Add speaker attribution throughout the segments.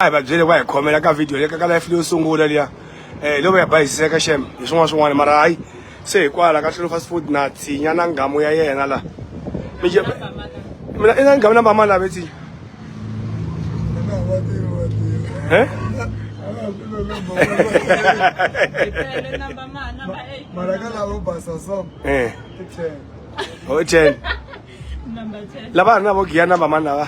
Speaker 1: a hi va byele va hi khomela ka video leka ka life leyo sungula liya um leyo va ya bayisiseka xem hi swin'wana swin'wana mara hayi se hikwala ka tlhelo fast food na tsinya na ngamu ya yena la mina i na ngamu na mbama lave tsinya eh? mara ka lavo basa so eh. o ten
Speaker 2: lava ha ri na vo giya na vamani
Speaker 1: lava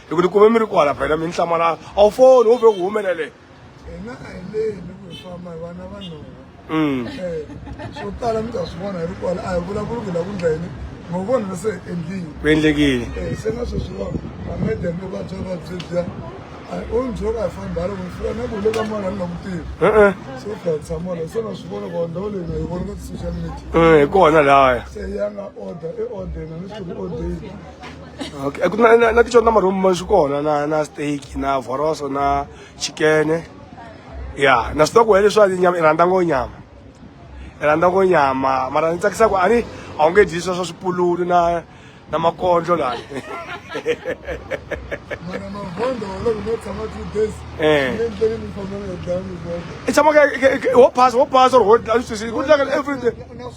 Speaker 1: hi ku tikuma mi ri kwala phela mi ni hlamala a wu foni wo ve ku humelele hina a hi
Speaker 3: leni ku hi famba hi vana va nhova mm. eh, swo tala mi ta swi vona hi ri kwala a hi vulavuli ku la ku ndlayini ngo vona na se endlile ku endlekile
Speaker 1: eh, se na sweswi va
Speaker 3: amedem loko a bya va byebya onjo ka fambhala kumfika nakulo ka mwana nginakutivi so dlatsa mwana se na swi vona ku ndhawu leyi nga yi vona ka ti-social media hi kona laya se
Speaker 1: ya nga order
Speaker 3: i order na ni swi order okay
Speaker 1: eh, na na na ticho na maroom ma swikona na na steak na voroso na chicken ya na swi ku hele swa nyama i rhandza ngo nyama i rhandza ngo nyama mara ni tsakisa ku ani a wu nge dyi swa swa swipululu na na makondlo lani i tshama wo pass wo pass or wo everything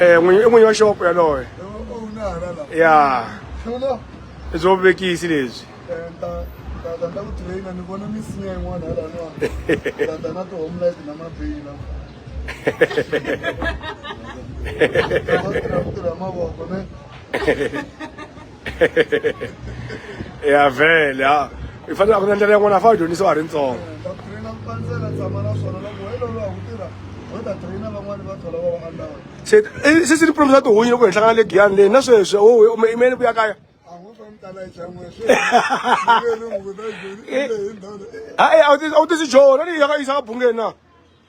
Speaker 1: Eh, n'winyi i n'winyi wa xopo yaloye ya i byo vuvekisi lebyi ya vhele ha i fanele a ku na ndlela yin'wana a fa a dyondzisiwa ha ri ntsongo se se se tipromi swa tihunyi loko hi hlangana le giyani leyi na sweswi o imele ku ya kaya a wu tisi jona leyi yaka yisa ka bungeni na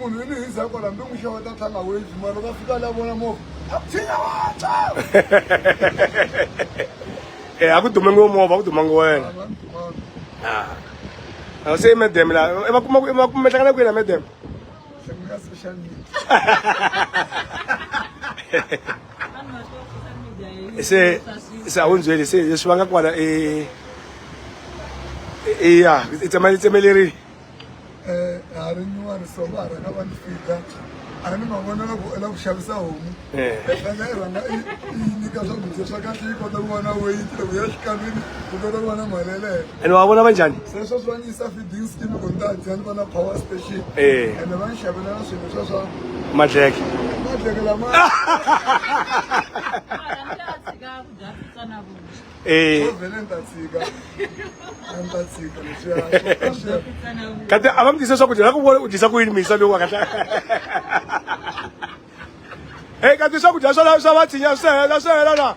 Speaker 3: munhu ini hi zako lambe n'wi xava ta tlhanga wezi mara loko a fika la vona movha a tshinya
Speaker 1: watswa e a ku dumangi wo movha a ku dumangi wena a se medem la e va kuma e va kuma hlangana ku yena medem
Speaker 3: social
Speaker 1: media se se a wu ndzweli se leswi va nga kwana i i ya i tsemeleriwi
Speaker 3: eh, ha ri nyuwani so va ha rhanga va ni fida a ni ma vona loko u lava ku xavisa homu ena i rhanga i i nyika swakudya swa kahle yi kota ku vona weyiti loko ya xikalwini ku kota ku vona mali yeleyo ene wa vona va njhani
Speaker 1: sweswo swa ni yisa feeding
Speaker 3: scheme ku ni ta dya ni vona power station Eh. ene va ni xavela na swilo swa swa madleke madleke lama Eh.
Speaker 1: kati a va mi tisa swakudya na ku vona u dyisa ku yini misa lowu waka e kati swakudya swa swa va tshinya swi hela swi hela na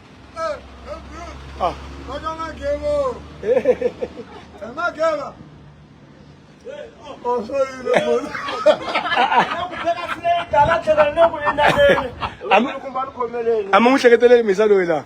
Speaker 1: a mi n'wi hleketeleli misa loyi laha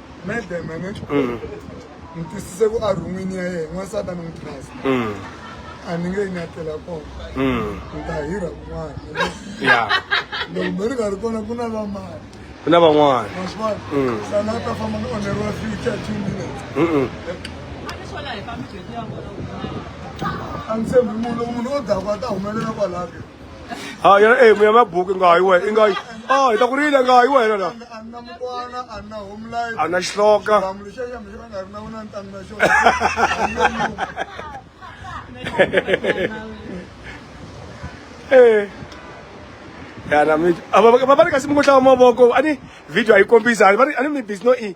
Speaker 4: medleme ne
Speaker 3: mm. ni twisise ku a rhungwini ya yena n'wansati a ni n'wi trust mm. a ni nge yi nyatela kona mm. ni ta hirha kun'wana loko me ri nga ri kona ku na vamani ku na van'wana
Speaker 1: maswani sana
Speaker 3: a ta famba ni onheriwa future two minutes a ni tshembi munhu loko munhu o dakwa ta humelela kwalaho ha yena
Speaker 1: e mu ya mabuki nga yi wena i nga yi a hi ta ku rila nga yi wena la
Speaker 3: a na xihloka
Speaker 1: e yana mi a va va va ri kasi mi ku hlava mavoko a ni video a yi kombisa a ni mi busy no i